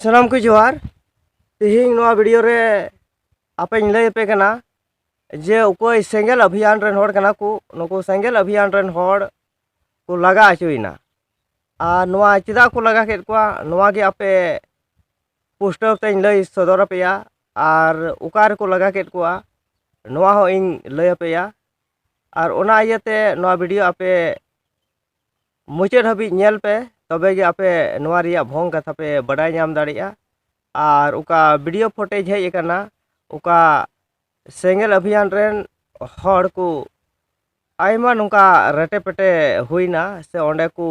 ᱥᱟᱱᱟᱢ ᱠᱚ ᱡᱚᱦᱟᱨ ᱛᱮᱦᱮᱧ ᱱᱚᱣᱟ ᱵᱷᱤᱰᱤᱭᱳ ᱨᱮ ᱟᱯᱮᱧ ᱞᱟᱹᱭ ᱟᱯᱮ ᱠᱟᱱᱟ ᱡᱮ ᱚᱠᱚᱭ ᱥᱮᱸᱜᱮᱞ ᱚᱵᱷᱤᱭᱟᱱ ᱨᱮᱱ ᱦᱚᱲ ᱠᱟᱱᱟ ᱠᱚ ᱱᱩᱠᱩ ᱥᱮᱸᱜᱮᱞ ᱚᱵᱷᱤᱭᱟᱱ ᱨᱮᱱ ᱦᱚᱲ ᱠᱚ ᱞᱟᱜᱟ ᱦᱚᱪᱚᱭᱮᱱᱟ ᱟᱨ ᱱᱚᱣᱟ ᱪᱮᱫᱟᱜ ᱠᱚ ᱞᱟᱜᱟ ᱠᱮᱫ ᱠᱚᱣᱟ ᱱᱚᱣᱟ ᱜᱮ ᱟᱯᱮ ᱯᱩᱥᱴᱟᱹᱣ ᱛᱮᱧ ᱞᱟᱹᱭ ᱥᱚᱫᱚᱨ ᱟᱯᱮᱭᱟ ᱟᱨ ᱚᱠᱟ ᱨᱮᱠᱚ ᱞᱟᱜᱟ ᱠᱮᱫ ᱠᱚᱣᱟ ᱱᱚᱣᱟ ᱦᱚᱸ ᱤᱧ ᱞᱟᱹᱭ ᱟᱯᱮᱭᱟ ᱟᱨ ᱚᱱᱟ ᱤᱭᱟᱹᱛᱮ ᱱᱚᱣᱟ ᱵᱷᱤᱰᱤᱭᱳ ᱟᱯᱮ ᱢᱩᱪᱟᱹᱫ ᱦᱟᱹᱵᱤᱡ ᱧᱮᱞ ᱯᱮ ᱛᱚᱵᱮ ᱜᱮ ᱟᱯᱮ ᱱᱚᱣᱟ ᱨᱮᱭᱟᱜ ᱵᱷᱚᱝ ᱠᱟᱛᱷᱟ ᱯᱮ ᱵᱟᱰᱟᱭ ᱧᱟᱢ ᱫᱟᱲᱮᱭᱟᱜᱼᱟ ᱟᱨ ᱚᱠᱟ ᱵᱷᱤᱰᱤᱭᱳ ᱯᱷᱚᱴᱮᱡᱽ ᱦᱮᱡ ᱟᱠᱟᱱᱟ ᱚᱠᱟ ᱥᱮᱸᱜᱮᱞ ᱟᱵᱷᱤᱭᱟᱱ ᱨᱮᱱ ᱦᱚᱲ ᱠᱚ ᱟᱭᱢᱟ ᱱᱚᱝᱠᱟ ᱨᱮᱴᱮ ᱯᱮᱴᱮ ᱦᱩᱭᱱᱟ ᱥᱮ ᱚᱸᱰᱮ ᱠᱚ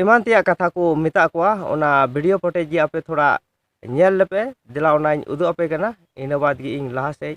ᱮᱢᱟᱱ ᱛᱮᱭᱟᱜ ᱠᱟᱛᱷᱟ ᱠᱚ ᱢᱮᱛᱟᱜ ᱠᱚᱣᱟ ᱚᱱᱟ ᱵᱷᱤᱰᱤᱭᱳ ᱯᱷᱚᱴᱮᱡᱽ ᱜᱮ ᱟᱯᱮ ᱛᱷᱚᱲᱟ ᱧᱮᱞ ᱞᱮᱯᱮ ᱫᱮᱞᱟ ᱚᱱᱟᱧ ᱩᱫᱩᱜ ᱟᱯᱮ ᱠᱟᱱᱟ ᱤᱱᱟᱹ ᱵᱟᱫᱽ ᱜᱮ ᱤᱧ ᱞᱟᱦᱟ ᱥᱮᱫ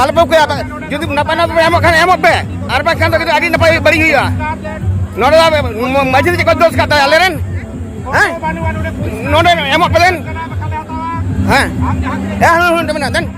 ᱟᱞᱚᱯᱮ ᱠᱚᱭᱟ ᱡᱩᱫᱤ ᱱᱟᱯᱟᱭ ᱱᱟᱯᱟᱭ ᱮᱢᱚᱜ ᱠᱷᱟᱱ ᱮᱢᱚᱜ ᱯᱮ ᱟᱨ ᱵᱟᱝᱠᱷᱟᱱ ᱫᱚ ᱟᱹᱰᱤ ᱱᱟᱯᱟᱭ ᱵᱟᱹᱲᱤᱡ ᱦᱩᱭᱩᱜᱼᱟ ᱱᱚᱰᱮ ᱢᱟᱹᱡᱷᱤ ᱪᱮᱫ ᱠᱚ ᱫᱳᱥ ᱠᱟᱜ ᱛᱟᱭᱟ ᱟᱞᱮ ᱨᱮᱱ ᱦᱮᱸ ᱱᱚᱰᱮ ᱮᱢᱚᱜ ᱯᱮ ᱞᱮᱱ ᱦᱮᱸ ᱦᱮᱸ ᱦᱮᱸ ᱢᱮᱱᱟᱜ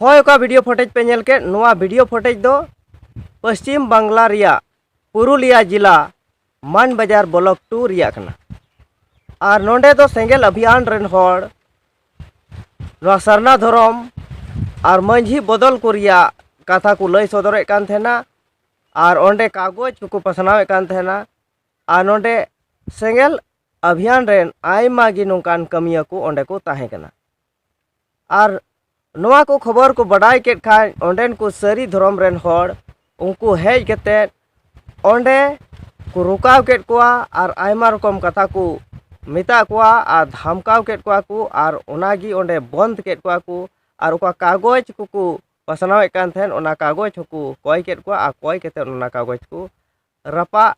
ᱦᱳᱭ ᱚᱠᱟ ᱵᱷᱤᱰᱤᱭᱳ ᱯᱷᱚᱴᱮᱡᱽ ᱯᱮ ᱧᱮᱞ ᱠᱮᱫ ᱱᱚᱣᱟ ᱵᱷᱤᱰᱤᱭᱳ ᱯᱷᱚᱴᱮᱡᱽ ᱫᱚ ᱯᱚᱥᱪᱤᱢ ᱵᱟᱝᱞᱟ ᱨᱮᱭᱟᱜ ᱯᱩᱨᱩᱞᱤᱭᱟ ᱡᱤᱞᱟ ᱢᱟᱱ ᱵᱟᱡᱟᱨ ᱵᱞᱚᱠ ᱴᱩ ᱨᱮᱭᱟᱜ ᱠᱟᱱᱟ ᱟᱨ ᱱᱚᱰᱮ ᱫᱚ ᱥᱮᱸᱜᱮᱞ ᱟᱵᱷᱤᱭᱟᱱ ᱨᱮᱱ ᱦᱚᱲ ᱱᱚᱣᱟ ᱥᱟᱨᱱᱟ ᱫᱷᱚᱨᱚᱢ ᱟᱨ ᱢᱟᱹᱡᱷᱤ ᱵᱚᱫᱚᱞ ᱠᱚ ᱨᱮᱭᱟᱜ ᱠᱟᱛᱷᱟ ᱠᱚ ᱞᱟᱹᱭ ᱥᱚᱫᱚᱨᱮᱫ ᱠᱟᱱ ᱛᱟᱦᱮᱱᱟ ᱟᱨ ᱚᱸᱰᱮ ᱠᱟᱜᱚᱡᱽ ᱠᱚᱠᱚ ᱯᱟᱥᱱᱟᱣᱮᱫ ᱠᱟᱱ ᱛᱟᱦᱮᱱᱟ ᱟᱨ ᱱᱚᱰᱮ ᱥᱮᱸᱜᱮᱞ ᱟᱵᱷᱤᱭᱟᱱ ᱨᱮᱱ ᱟᱭᱢᱟ ᱜᱮ ᱱᱚᱝᱠᱟᱱ ᱠᱟᱹᱢᱤᱭᱟᱹ ᱠᱚ ᱚᱸᱰᱮ ᱠᱚ ᱛᱟᱦᱮᱸ ᱠᱟᱱᱟ ᱟᱨ ᱱᱚᱣᱟ ᱠᱚ ᱠᱷᱚᱵᱚᱨ ᱠᱚ ᱵᱟᱰᱟᱭ ᱠᱮᱫ ᱠᱷᱟᱱ ᱚᱸᱰᱮᱱ ᱠᱚ ᱥᱟᱹᱨᱤ ᱫᱷᱚᱨᱚᱢ ᱨᱮᱱ ᱦᱚᱲ ᱩᱱᱠᱩ ᱦᱮᱡ ᱠᱟᱛᱮᱫ ᱚᱸᱰᱮ ᱠᱚ ᱨᱚᱠᱟᱣ ᱠᱮᱫ ᱠᱚᱣᱟ ᱟᱨ ᱟᱭᱢᱟ ᱨᱚᱠᱚᱢ ᱠᱟᱛᱷᱟ ᱠᱚ ᱢᱮᱛᱟᱫ ᱠᱚᱣᱟ ᱟᱨ ᱫᱷᱟᱢᱠᱟᱣ ᱠᱮᱫ ᱠᱚᱣᱟ ᱠᱚ ᱟᱨ ᱚᱱᱟ ᱜᱮ ᱚᱸᱰᱮ ᱵᱚᱸᱫᱽ ᱠᱮᱫ ᱠᱚᱣᱟ ᱠᱚ ᱟᱨ ᱚᱠᱟ ᱠᱟᱜᱚᱡᱽ ᱠᱚᱠᱚ ᱯᱟᱥᱱᱟᱣᱮᱫ ᱠᱟᱱ ᱛᱟᱦᱮᱸᱫ ᱚᱱᱟ ᱠᱟᱜᱚᱡᱽ ᱦᱚᱸᱠᱚ ᱠᱚᱭ ᱠᱮᱫ ᱠᱚᱣᱟ ᱟᱨ ᱠᱚᱭ ᱠᱟᱛᱮᱫ ᱚᱱᱟ ᱠᱟᱜᱚᱡᱽ ᱠᱚ ᱨᱟᱯᱟᱜ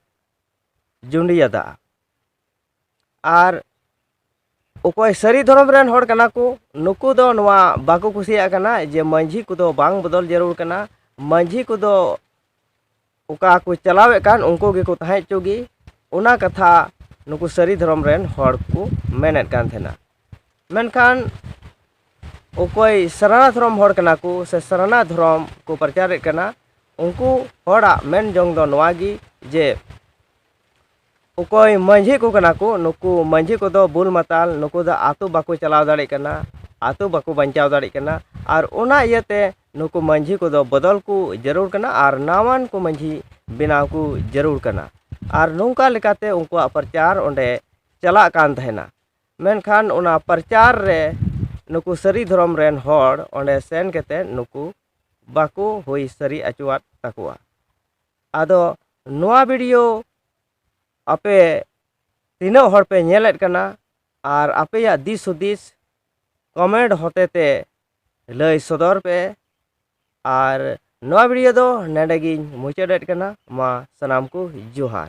ᱡᱩᱸᱰᱤᱭᱟᱫᱟ ᱟᱨ ᱚᱠᱚᱭ ᱥᱟᱹᱨᱤ ᱫᱷᱚᱨᱚᱢ ᱨᱮᱱ ᱦᱚᱲ ᱠᱟᱱᱟ ᱠᱚ ᱱᱩᱠᱩ ᱫᱚ ᱱᱚᱣᱟ ᱵᱟᱠᱚ ᱠᱩᱥᱤᱭᱟᱜ ᱠᱟᱱᱟ ᱡᱮ ᱢᱟᱹᱡᱷᱤ ᱠᱚᱫᱚ ᱵᱟᱝ ᱵᱚᱫᱚᱞ ᱡᱟᱹᱨᱩᱲ ᱠᱟᱱᱟ ᱢᱟᱹᱡᱷᱤ ᱠᱚᱫᱚ ᱚᱠᱟ ᱠᱚ ᱪᱟᱞᱟᱣᱮᱫ ᱠᱟᱱ ᱩᱱᱠᱩ ᱜᱮᱠᱚ ᱛᱟᱦᱮᱸ ᱦᱚᱪᱚᱜ ᱜᱮ ᱚᱱᱟ ᱠᱟᱛᱷᱟ ᱱᱩᱠᱩ ᱥᱟᱹᱨᱤ ᱫᱷᱚᱨᱚᱢ ᱨᱮᱱ ᱦᱚᱲ ᱠᱚ ᱢᱮᱱᱮᱫ ᱠᱟᱱ ᱛᱟᱦᱮᱱᱟ ᱢᱮᱱᱠᱷᱟᱱ ᱚᱠᱚᱭ ᱥᱟᱨᱱᱟ ᱫᱷᱚᱨᱚᱢ ᱦᱚᱲ ᱠᱟᱱᱟ ᱠᱚ ᱥᱮ ᱥᱟᱨᱱᱟ ᱫᱷᱚᱨᱚᱢ ᱠᱚ ᱯᱨᱚᱪᱟᱨᱮᱫ ᱠᱟᱱᱟ ᱩᱱᱠᱩ ᱦᱚᱲᱟᱜ ᱢᱮᱱ ᱡᱚᱝ ᱫᱚ ᱱᱚᱣᱟ ᱜᱮ ᱡᱮ ᱚᱠᱚᱭ ᱢᱟᱺᱡᱷᱤ ᱠᱚ ᱠᱟᱱᱟ ᱠᱚ ᱱᱩᱠᱩ ᱢᱟᱺᱡᱷᱤ ᱠᱚᱫᱚ ᱵᱩᱞ ᱢᱟᱛᱟᱞ ᱱᱩᱠᱩ ᱫᱚ ᱟᱛᱳ ᱵᱟᱠᱚ ᱪᱟᱞᱟᱣ ᱫᱟᱲᱮᱭᱟᱜ ᱠᱟᱱᱟ ᱟᱛᱳ ᱵᱟᱠᱚ ᱵᱟᱧᱪᱟᱣ ᱫᱟᱲᱮᱭᱟᱜ ᱠᱟᱱᱟ ᱟᱨ ᱚᱱᱟ ᱤᱭᱟᱹᱛᱮ ᱱᱩᱠᱩ ᱢᱟᱺᱡᱷᱤ ᱠᱚᱫᱚ ᱵᱚᱫᱚᱞ ᱠᱚ ᱡᱟᱹᱨᱩᱲ ᱠᱟᱱᱟ ᱟᱨ ᱱᱟᱣᱟᱱ ᱠᱚ ᱢᱟᱺᱡᱷᱤ ᱵᱮᱱᱟᱣ ᱠᱚ ᱡᱟᱹᱨᱩᱲ ᱠᱟᱱᱟ ᱟᱨ ᱱᱚᱝᱠᱟ ᱞᱮᱠᱟᱛᱮ ᱩᱱᱠᱩᱣᱟᱜ ᱯᱨᱚᱪᱟᱨ ᱚᱸᱰᱮ ᱪᱟᱞᱟᱜ ᱠᱟᱱ ᱛᱟᱦᱮᱱᱟ ᱢᱮᱱᱠᱷᱟᱱ ᱚᱱᱟ ᱯᱨᱚᱪᱟᱨ ᱨᱮ ᱱᱩᱠᱩ ᱥᱟᱹᱨᱤ ᱫᱷᱚᱨᱚᱢ ᱨᱮᱱ ᱦᱚᱲ ᱚᱸᱰᱮ ᱥᱮᱱ ᱠᱟᱛᱮᱫ ᱱᱩᱠᱩ ᱵᱟᱠᱚ ᱦᱩᱭ ᱥᱟᱹᱨᱤ ᱦᱚᱪᱚᱣᱟᱫ ᱛᱟᱠᱚᱣᱟ ᱟᱫᱚ ᱱᱚᱣᱟ ᱵᱷᱤᱰᱤᱭᱳ ᱟᱯᱮ ᱛᱤᱱᱟᱹᱜ ᱦᱚᱲ ᱯᱮ ᱧᱮᱞᱮᱫ ᱠᱟᱱᱟ ᱟᱨ ᱟᱯᱮᱭᱟᱜ ᱫᱤᱥ ᱦᱩᱫᱤᱥ ᱠᱚᱢᱮᱱᱴ ᱦᱚᱛᱮ ᱛᱮ ᱞᱟᱹᱭ ᱥᱚᱫᱚᱨ ᱯᱮ ᱟᱨ ᱱᱚᱣᱟ ᱵᱷᱤᱰᱤᱭᱳ ᱫᱚ ᱱᱚᱰᱮ ᱜᱤᱧ ᱢᱩᱪᱟᱹᱫᱮᱫ ᱠᱟᱱᱟ ᱢᱟ ᱥᱟᱱᱟᱢ ᱠᱚ ᱡᱚᱦᱟᱨ